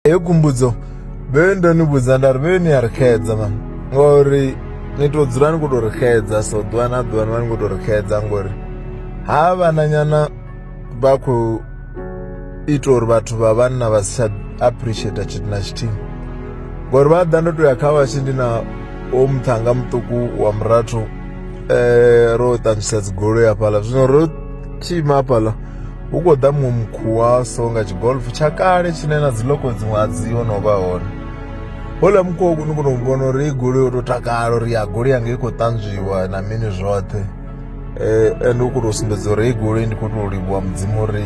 Heyo khumbudzo vhe ndo ni vhudza nda ri vhe ni a ri xedza mani ngori ni to dzula ni khou tou ri xedza so ḓuvha na ḓuvha ni vha ni khou tou ri xedza ngori ha vhananyana vha khou ita uri vhathu vha vhanna vha si tsha appreciate tshithu na tshithihi ngori vha ḓa ndo to ya kha vhatshi ndi na o muṱhanga muṱuku wa murathu um ro ṱangisa dzigoloi hafhaḽa zwino ro Tshima hafhaḽa hu khou ḓa muṅwe mukhuwaso nga tshigolf tsha kale tshine na dzi loko dziṅwe a dzi ho no vha hone houḽa mukhuwa ni kona u vhona uri i goloi yo tou takala uri ya goloi yanga i khou ṱanzwiwa na mini zwoṱhe um ende u khou tou sumbedza uri hei goloi ndi khou tou livhuwa mudzimu uri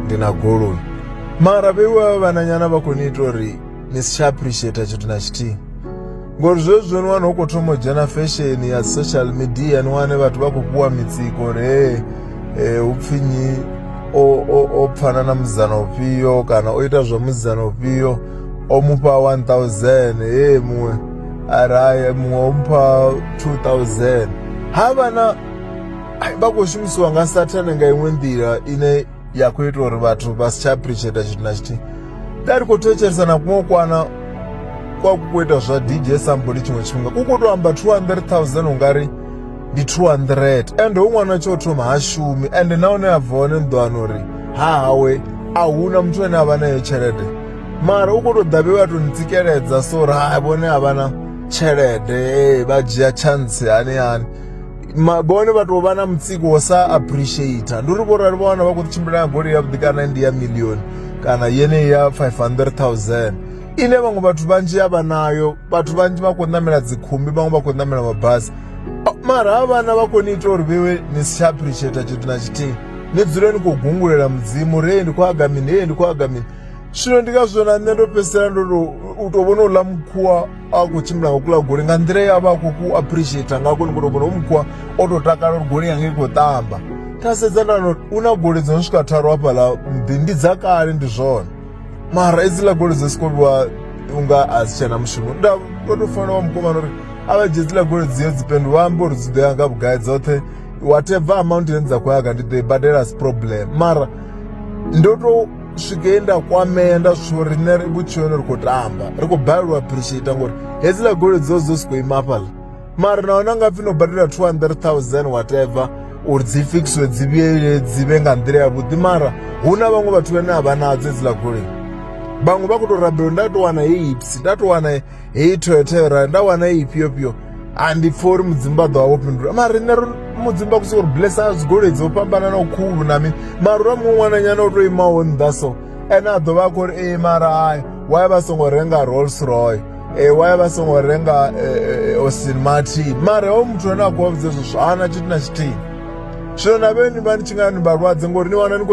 ndi na goloi mara vheiwe vha vhananyana vha khou ni ita uri ni si tsha appreciator tshithu na tshithihi ngori zwezwo ni wana hu khou thoma u dzhena fesheni ya social media ni wane vhathu vha khou fhiwa mitsiko uri he um eh, hu pfhi nyi o pfana na musidzana ufhio kana o ita zwa musidzana ufhio o mufha 1000 he muṅwe araye muṅwe o mupha 2000 ha vha na vha khou shumisiwa nga sathane nga iṅwe nḓila ine ya khou ita uri vhathu vha si tsha appreciate tshithu na tshithihi nda ri khou thetshelesa na kuṅwe kwana kwa ku khou ita zwa dj samboli tshiṅwe tshifhinga ku khou tou amba 200000 ungari ndi 200 ende hu ṅwana tsho thoma ha shumi ende na hune a bva hone ni ḓo wana uri ha hawe a huna muthu ane a vha nayo tshelede mara u khou tou ḓa vhe vha tou ni tsikeledza so uri ha vhone a vha na tshelede vha dzhia chance hani hani ma- vhone vha tou vha na mutsiko wo sa appreciator ndi uri vhorali vha wana vha khou tshimbila nga goloi yavhuḓi kana ndi ya million kana yeneyi ya 500000 ine vhaṅwe vhathu vhanzhi a vha nayo vhathu vhanzhi vha khou ṋamela dzikhumbi vhaṅwe vha khou ṋamela mabasi A- mara ha vhana vha khou ni ita uri vhewe ni si tsha appreciator tshithu na tshithihi ni dzule ni khou gungulela mudzimu uri hei ndi khou haga mini hei ndi khou haga mini zwino ndi ngazwo na nṋe ndo fhedzisela ndo tou u tou vhona uḽa mukhuwa a khou tshimbila nga kuḽa goloi nga nḓila ya vha a khou ku appreciate nga koni kono kono mukwa o tou takala uri goloi yanga i khou ṱamba nda sedza nda hu na goloi dzo no swika tharu hafhaḽa muḓi ndi dza kale ndi zwone mara hedziḽa goloi dzi soko vhiwa unga a si tshena mushumo nda ndo tou fanela wa mukomana uri a vha dzhie dziḽa goloi dzio dzi pendu vha amba uri dzi ḓo ya nga vhugai dzoṱhe whatever amount ine dza khou ya kha ndi ḓo i badela asi problem mara ndo tou swike he nda kwamea nda zwi uri nṋe vhutshiloni ri khou tamba ri khou balelwa appreciate ngori hedziḽa goloi dzo dzo si khou ima fhaḽa mara na hone nga pfhi no badela 200000 whatever uri dzi fikiswe dzi vhuyele dzi vhe nga nḓila ya vhuḓi mara hu na vhaṅwe vhathu vhane a vha nadzo hedziḽa goloi vhaṅwe vha khou tou rabela nda tou wana heyi ipsi nda tou wana heyi toyota yo rali nda wana heyi ifhio fhio a ndi pfha uri mudzimu vha ḓo vha vho fhindula mara riṋe mudzimu vha kusa uri blessa dzigoloi dzo fhambananaho khulu na mini mara ura muṅwe ṅwananyana o to imaho nnḓa so ene a ḓo vha a khou uri ee mara hai wa ya vha songo renga rolls roy ee wa ya vha songo renga austin martin mara ho muthu ane a khou vha vhudza hezwo zwithu hana tshithu na tshithihi zwino na vheni vha ni tshi nga ni vhalwadze ngori ni wana ni khou